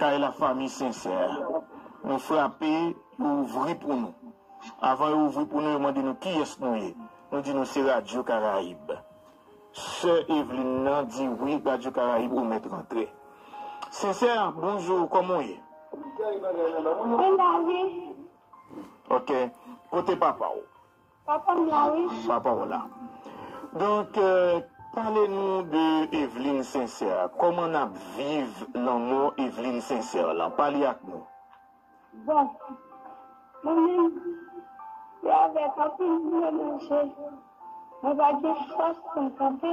Kay la fanmi sensè Nou frape yo ouvri pou nou Avan yo ouvri pou nou yo mande nou kiyès nou ye Nou di nou se radyo karayib Sè Evlin nan di wi radyo karayib ou mèt rantre Sensè bonjou kòman w ye Mwen la wi Ok kote papa w Papa m la wi. Papa w la. Donk pale nou de Evelyne Sincère. Koman nap viv lanmò Evelyne Sincère lan? Pale ak nou. Bon. Mwen menm se avèk anpil doulè nan je. Mwen pa gen fòs pou m kanpe.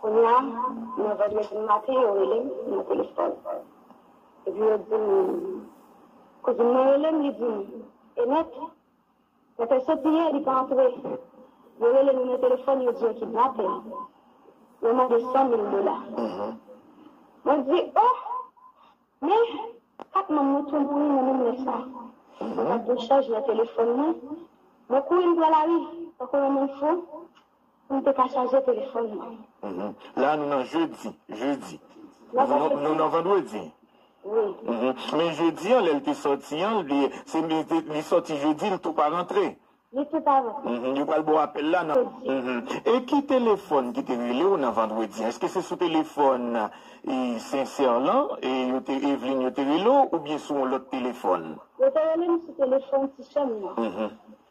Kounye a, nan vandredi maten, yo rele m nan telefòn. Epi yo di m, Kouzin mwen rele m, li di m, Enèt, pèpè soti yè, li pa antre. Yo rele nou nan telefòn, yo di yo kidnape l. Yo mande san mil dola. Mwen di, O! Men, kat manm mwen tou mouri nan menm lè sa a. Mwen pa t gen chanj nan telefòn mwen. Mwen kouri m pran lari, tankou yon moun fou, Pou m te ka chaje telefòn mwen. La a nou nan jedi. Jedi. Nou nan vandredi. Wi. Men jedi an lè l te sòti an, li sòti jedi li tou pa rantre. Li tou pa rantre. Yo pral ba w apèl la nan. Jedi. E ki telefòn ki te rele w nan vandredi an? Èske se sou telefòn Sensyèr lan Eveline yo te rele w oubyen sou yon lòt telefòn? Yo te rele m sou telefòn ti sè m nan.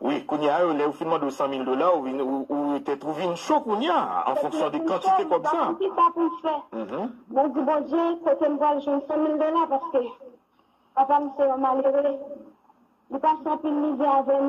Wi, kounye a yo lè yo fin mande w 100 mil dola ou vin ou tèt ou vin cho kounye a an fonksyon de kantite kòb sa. Mwen di sa poukisa pou m fè. Mwen di Bondye kote m pral jwenn 100 mil dola paske papa m se yon malere li pase anpil mizè avè m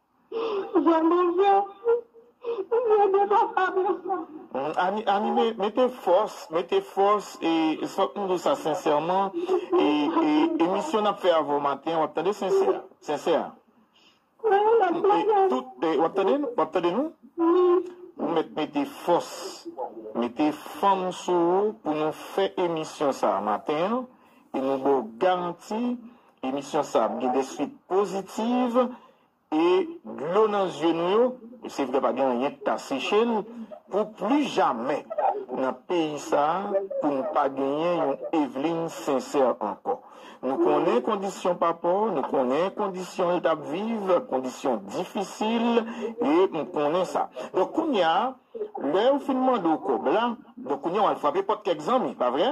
Jan manje Mwen gen dwa frape sa. Ami mete fòs mete fòs e fòk nou di sa sensèman e emisyon nap fè avèw maten wap tande sensè sensè wap tande wap tande nou ou mèt mete fòs mete fanm sou ou pou nou fè emisyon sa maten an e nou baw garanti Emisyon sa ap gen des suites positives e dlo nan zye nou yo, e se vre pa gen anyen ki ka seche l, pou pli jamè nan peyi sa pou n pa genyen yon Eveline Sincère ankò. Nou konnen kondisyon papa w, nou konnen kondisyon l t ap viv, kondisyon difisil e m konnen sa. Donk kounye a, lè yo fin mande w kòb la, donk kounye a w al frape pòt kèk zanmi, pa vre?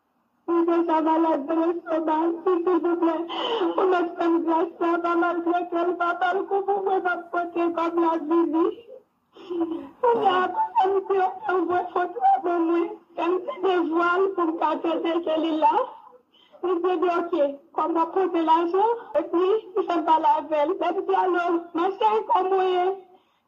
Mwen deja malad nan lestomak si silvouplè ou mèt fèm gras sa va mal tretel va bal kou pou mwen map pote kòb la vini kounya kouzin m diw fèw voye foto a ban mwen fèm ti devwal poum ka trete ke li la li di ebyen ok kòm wap pote lajan epi li fèm pale avèl lèm di alo ma chérie kòmw ye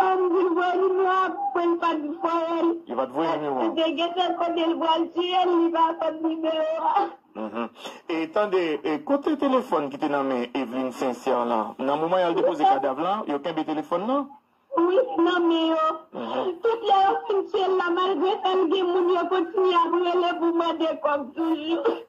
Ann dil voye numéro a pou l pat voyel. Li pat voye numéro an. Li gentan kote li pral tiyel li pa konn numéro a. Mph e tande e kote telefòn ki te nan men Evelyne Sincère lan? Nan moman yal depoze kadav lan yo kenbe telefòn nan? Wi nan men yo. Tout lè yo fin tiyel la malgre sa li gen moun yo kontinye ap rele pou mande kòb toujou.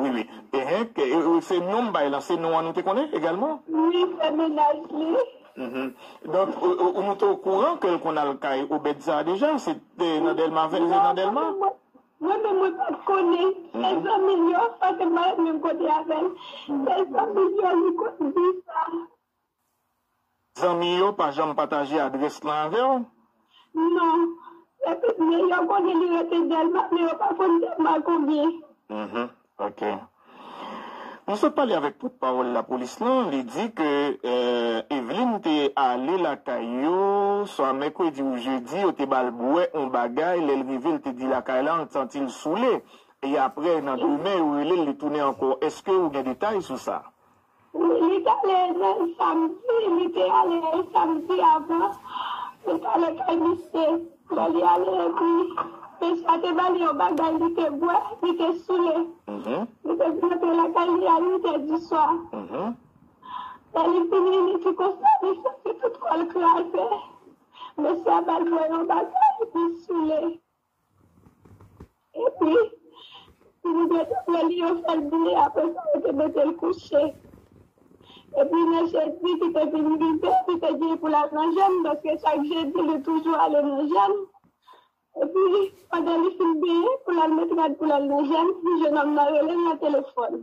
Wi wi ehenk se non m bay lan se non an nou te konnen egalman. Wi se mennaj li. Hum donk ou nou te okouran ke l konn al kay obed sa deja se te nan delma vin nan delma. Non mwen menm mwen pat konnen se zanmi l yo paske m pa ret menm kote avèl se zanmi l yo li konn di sa. Zanmi yo pa janm pataje adrès lan avèw? Non. Lè tout nèg yo konnen li rete Dèlma men yo pa konn Dèlma konbyen. Mph ok. Nou sot pale avèk pòt pawòl lapolis lan, li di ke Eveline te ale lakay yo swa mèkredi ou jedi, yo te bal bwè on bagay, lèl rive l te di lakay lan l t santi l soule e aprè nan demen yo relel li tounen ankò. Eske ou gen detay sou sa? Wi li t ale nan samdi li te ale samdi avan li t ale kay misye lè li ale epi mesye a te ba li yon bagay li te bwè li te soule li te vin antre lakay li a 8 è di swa lè li vini li di konsa li santi tout kò l kraze mesye a ba l bwè yon bagay li soule. Epi, Timoteo te pran li yon sèl bouyi, apre sa, yo te mete l kouche. Epi, lè jedi ki te vin rive, li te genyen pou l al nan jèn, paske chak jedi, li toujou ale nan jèn. Epi, pandan li fin benyen, pou l al met rad pou l al nan jèn, jenòm nan rele l nan telefòn.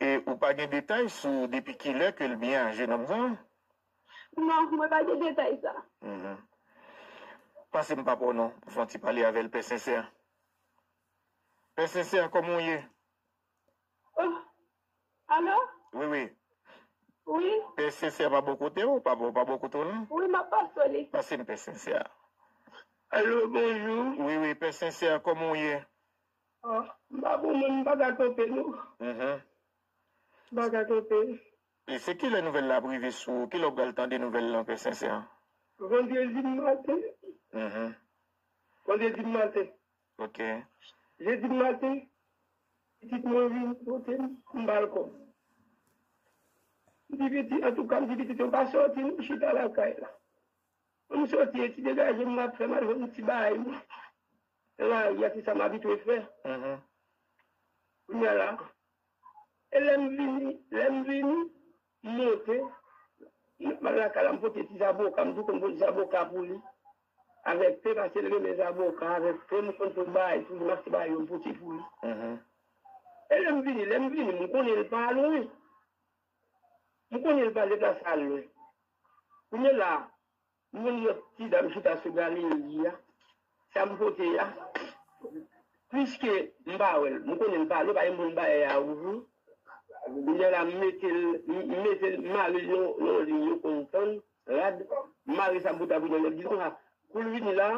E ou pa gen detay sou depi kilè ke l byen aje nonm sa? Non, mwen pa gen detay sa. Pase m papa w non pou fè yon ti pale avè l Pè Sensè. Pè Sensè, kòman w ye? Oh, alo? Wi, wi. Wi. Pè Sensè pa bò kote w? Papa w pa bò kote w non? Wi, m ap pase w li. Pase m Pè Sensè. Alo, bonjou. Wi, wi, Pè Sensè, kòman w ye? Ah m pa bon moun m pa ka kanpe non. M pa ka kanpe. E se kilè nouvèl la ap rive sou ou? Kilè w pral tande nouvèl lan pè Sensèn? Vandredi maten. Vandredi maten. Ok. Jedi maten pitit mwen vin pote m pou m ba l kòb. M di pitit antouka m di pitit yo pa sòti non chita lakay la. Ann soti eti degaje m map fè mal jwenn ti bay mwen nan lari a se sa m abitwe fè kounya la e lè m vini lè m vini m monte m al lakay la m pote ti zaboka m tou konn pote zaboka pou li avèk te pase l renmen zaboka avèk te m konn tou bay tou li m achte bay yo m pote pou li e lè m vini lè m vini m konnen l pa lwen M konnen l pa deplase al lwen. Kounye la, m konn lòt ti dam chita sou galeri a, sa m pote a. Piske m pa wè l, m konnen l pa ale, l pa gen moun bagay a ouvri. Kounye la, m mete l, m mete l, m mare l yon liy yo konn tann, rad. M mare sa boutabout nan men l, m di l konsa, kou l vini la,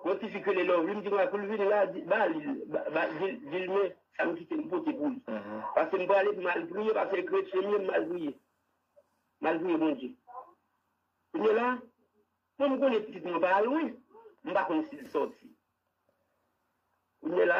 Yon ti fi k rele Lovelyne ki pral poul vin la di ba li ba dil men sam kite m pote pou li pase m prale pou mal priye pase kretyen m ye m mal priye mal priye Bondye kounye la bon m konnen pitit mwen pa al lwen m pa konn sil sòti kounye la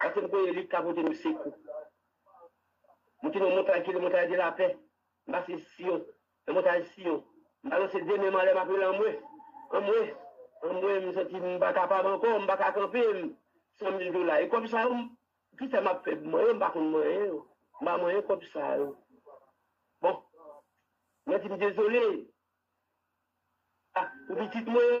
Kote m konnen li ka pote nou sekou. Mwen te nan yon montay ki rele Montay de lapè. M pase Siyon, nan montay Siyon. M balanse de men m anlè m ap rele anmwe, anmwe, anmwe. M santi m pa kapab ankò, m pa ka kanpe. M san mil dola. E kòb sa yo, ki sa m ap fè? Mwen menm m pa konn manyen yo. M pa manyen kòb sa yo. Bon, mwen di m dezole a pou pitit mwen.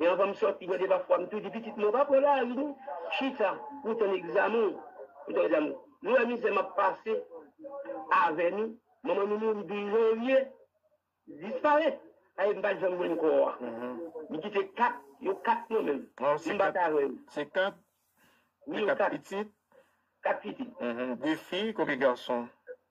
E anvan m sòti mande pafwa m tou di pitit mwen pa pran lari non, chita pou w tann egzamen w, pou w tann egzamen w. Nou wè mizè m ap pase avè nou, manman nou mouri 12 janvye, li disparèt, sa vle di m pa janm jwenn kò a. Li kite 4, yo 4 nan men m, si m pa ta avè yo. Se 4? Wi, yo 4. 4 pitit. 2 fi, konbyen gason?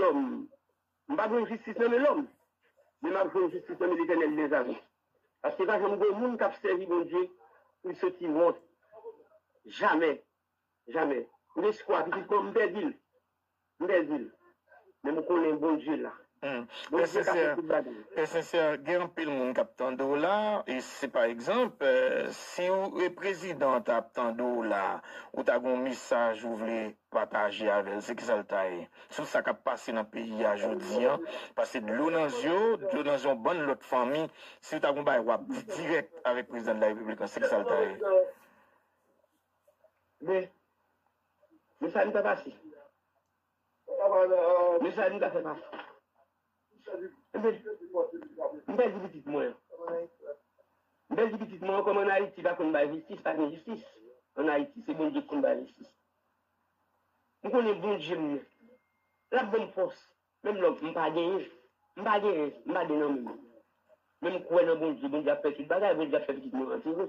Lòm. M pa jwenn jistis nan men lòm, men m ap jwenn jistis nan men Letènèl dezame. Paske pa janm gen moun k ap sèvi Bondye pou l soti wont. Jamè! Jamè! M gen espwa, pitit mwen, m pèdi l. M pèdi l. Men m konnen Bondye la. Pè Sensè, Pè Sensè, gen anpil moun k ap tande w la. E si pa egzanp, si w e prezidan an ta ap tande w la, ou ta gen yon mesaj ou vle pataje avè l se kisa l ta ye sou sa k ap pase nan peyi a jodi an pase dlo nan zye w, dlo nan zye yon bann lòt fanmi, si w ta gen yon bagay w ap di dirèk avèk prezidan de la repiblik lan se kisa l ta ye? Men Men sa li pa pase Men sa li pa fè pase. M pèdi pitit mwen. M pèdi pitit mwen kòm an Ayiti pa konn bay jistis pa gen jistis an Ayiti se Bondye ki konn bay jistis m konnen Bondye m nan l ap ban m fòs menm lò m pa genyen m pa gen rès m pa gen nan men men m kwè nan Bondye Bondye ap fè tout bagay Bondye ap fè pitit mwen antere.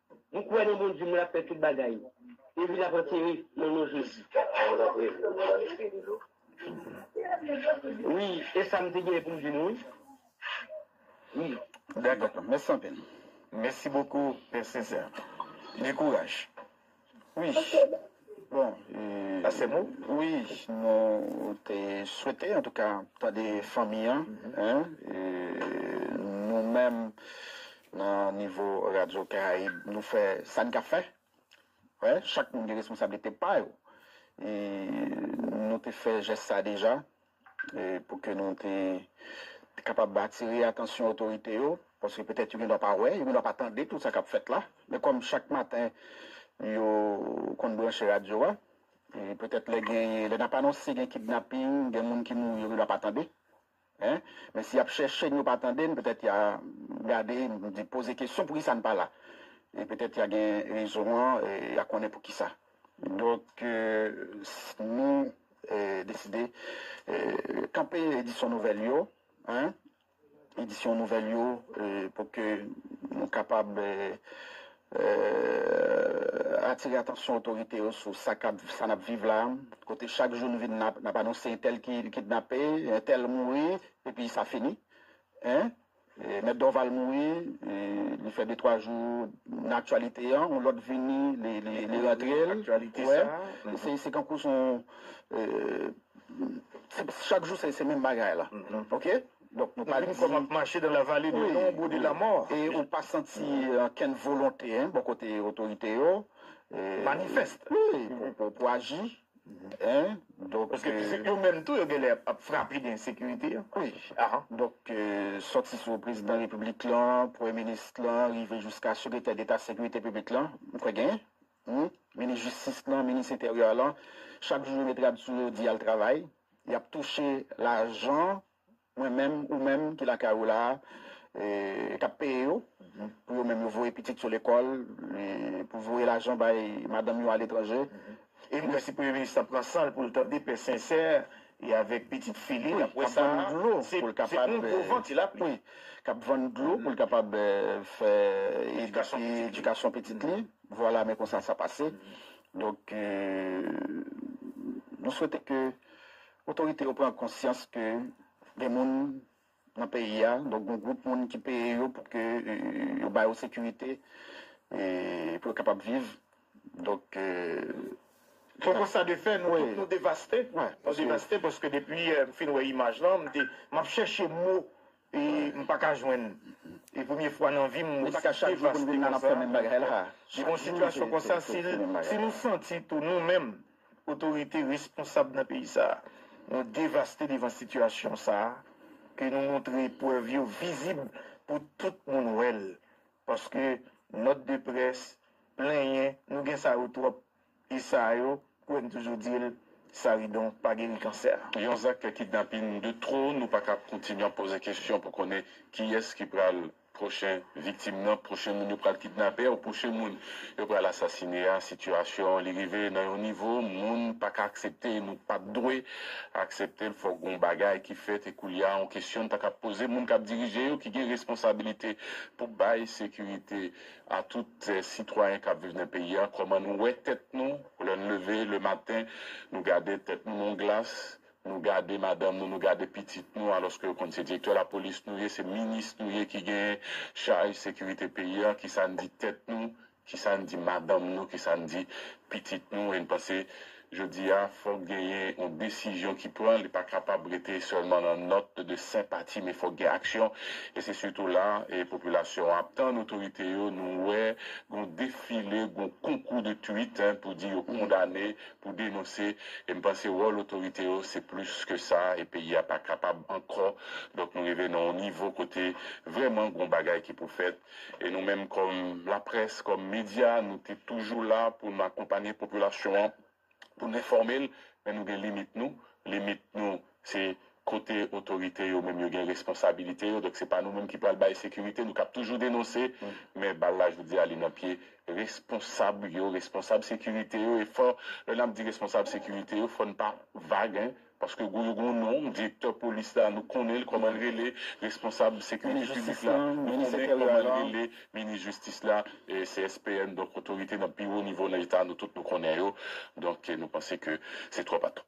M kwè nan Bondye m lap fè tout bagay epi lap antere nan non Jezi. Mwen tap reve m wè espri doudou. Wi esam te genyen poum di nou wi. Dako pam mèsi anpil. Mèsi bokou pè Cesar. Gen kouraj wi. Bon Pastè Mo wi nou te swete antouka tande fanmi an nou menm nan nivo radyo karayib nou fè sa n ka fè wè chak moun gen responsablite pa yo nou te fè jès sa deja. Pou ke nou te kapab atire atansyon otorite yo, paske petèt yo gen dwa pa wè, yo gen dwa pa tande tout sa k ap fèt la, men kòm chak maten yo konn branche radyo a, petèt lè gen, lè n ap anonse gen kidnaping, gen moun ki mouri, yo gen dwa pa tande. Men si y ap chèche n, yo pa tande n, petèt y a gade, poze kesyon poukisa n pa la. E petèt y a gen rezon an, y a konnen poukisa. Donk nou deside kanpe edisyon nouvèl yo, edisyon nouvèl yo pou ke nou kapab atire atansyon otorite yo sou sa n ap viv la, kote chak jou nou vin n ap anonse entèl ki kidnape, entèl mouri, epi sa fini. Mèt Dorval mouri, li fè de twa jou nan aktyalite an, yon lòt vini li rantre l, wè, se kankou s on, chak jou se menm bagay la, ok. Donk nou pa di. Vin kòm ap mache dan la vale de lonbro de la mò. E ou pa santi ankenn volonte bò kote otorite yo. Manifèst. Wi, pou aji. Paske pitit yo menm tou yo genlè ap frape de ensekirite. Wi ah. Donk sòti sou prezidan repiblik lan, premye minis lan rive jiska sekretè deta sekirite piblik lan, m kwè gen humm, minis jistis lan, minis enteryè lan, chak jou yo met rad sou yo di yal travay, yap touche lajan Mwen menm, ou menm ki lakay ou la a, k ap peye yo, pou yo menm yo voye pitit yo lekòl, pou voye lajan bay madanm yo aletranje. E m wè si Premye Minis la pran san l pou l tande pè Sensè e avèk pitit fi li k ap vann dlo pou l kapab fè edikasyon pitit li. Vwala, men konsa sa pase. Donk, nou swete ke. Otorite yo pran konsyans ke gen moun nan peyi a, donk gen yon gwoup moun ki peye yo pou ke yo ba yo sekirite pou yo kapab viv. Donk, se yon konsta de fè, nou tout nou devaste. Nou devaste paske depi m fin wè imaj lan, m ap chèche mo E m pa ka jwenn. E premye fwa nan vi m m devaste konsa. Devan yon sitiyasyon konsa, si nou santi tou nou menm otorite responsab nan peyi sa, nou devaste devan sitiyasyon sa, ke nou montre prèv yo vizib pou tout moun wè l. Paske nòt de près, plenyen, nou gen sa yo twòp. E sa yo kwè m toujou di l Saridon pa geri kansè. Yon zak kidnapin de tro, nou pa ka kontinye ap poze kesyon pou konnen kiyès ki pral pwochen viktim nan, pwochen moun yo pral kidnape ou pwochen moun yo pral asasine a. Sitiyasyon an li rive nan yon nivo moun pa ka aksepte e nou pat dwe aksepte l. Fòk gon bagay ki fèt e koulye a on kesyon n ta ka poze moun k ap dirije yo ki gen responsabilite pou bay sekirite. A tout sitwayen kap viv nan peyi a kòman nou wè tèt nou lè n leve le maten nou gade tèt nou nan yon glas nou gade madanm nou nou gade pitit nou alòske yo konn se direktè lapolis nou ye se minis nou ye ki gen chaj sekirite peyi a kisa n di tèt nou kisa n di madanm nou kisa n di pitit nou e n panse Jodi a, fòk genyen yon desizyon ki pran, li pa kapab rete sèlman nan nòt de senpati men fòk gen aksyon. E se sitou la a popilasyon an ap tann otorite yo, nou wè gon defile, gon konkou de tweet pou di yo kondane, pou denonse. E m panse wòl otorite yo se plis ke sa e peyi a pa kapab ankò. Donk nou rive nan yon nivo kote vrèman gon bagay ki pou fèt. E nou menm kòm laprès, kòm medya, nou te toujou la pou nou akonpanye popilasyon an, pou nou enfòme l, men nou gen limit nou. Limit nou se kote otorite yo menm yo gen responsabilite yo. Donk se pa nou menm ki pral bay sekirite. Nou kab toujou denonse, men bal la jodi a li nan pye responsab yo, responsab sekirite yo. E fò, lè n ap di responsab sekirite yo, fò n pa vag. Paske gou yo gou non, direktè polis la nou konnenl kòmanl rele, responsab sekirite piblik la nou konnen kòmanl rele, minis jistis la, CSPN donk otorite nan pi wo nivo nan eta nou tout nou konnen yo donk nou panse ke se twòp atò.